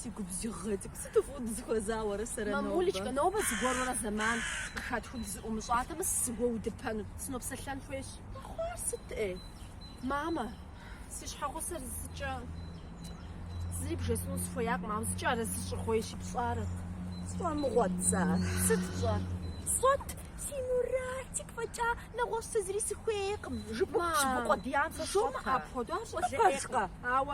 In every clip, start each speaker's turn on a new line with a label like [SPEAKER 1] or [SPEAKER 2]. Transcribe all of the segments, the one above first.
[SPEAKER 1] Си губзыгъэ цӏыкӏу сыту фӏыуэ дызэхуэза уэрэ сэрэ нобэ? Мамулечкэ, нобэ зыгуэрурэ зэман къыхэтхыу дызэӏумыщӏатэмэ, сызэгуэудыпэну, сынопсэлъэн хуейщ. Хъуар сыт ӏей? Мамэ, си щхьэгъусэр зыкӏэ зыри бжесӏэну сыхуеякъым, ауэ зыкӏэ арэзы щӏыгъуейщи, пщӏэрэ. Сфӏэмыгъуэт сэ ар. Сыт тщӏэр? Сфӏэт, си Мурат цӏыкӏу фӏэкӏа, нэгъуэщӏ сэ зыри сыхуейкъым. Жыпӏэ, Мамэ, жыпӏэ къуэдиям сэ жумыӏэ сфӏэта? апхуэдэу, ар щӏалэ ӏейкъым. Пэжкъэ? Ауэ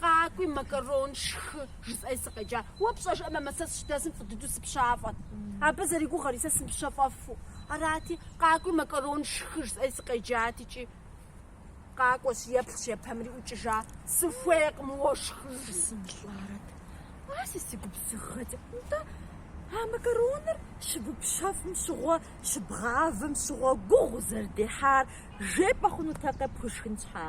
[SPEAKER 1] Къакӏуи, макарон, шхы, жысӏэри сыкъеджа. Уэ пщӏэжрэ, мамэ, сэ сыщыдэсым фӏы дыдэу сыпщафӏэт. Абы зэригугъэри, сэ сымыпщэфӏэфу. Арати, къакӏуи, макарон, шхы, жысӏэри сыкъеджат икӏи. Къакӏуэщ, еплъщ, епэмри ӏукӏыжа. Сыхуейкъым уэ шхы жи. Сымылӏарэт. Ар си си губзыгъэт. Нтӏэ, а макароныр щыупщэфӏым щыгъуэ, щыбгъавэм щыгъуэ гугъу узэрыдехьар жепӏэ хъунутэкъэ пхуишхын щхьа?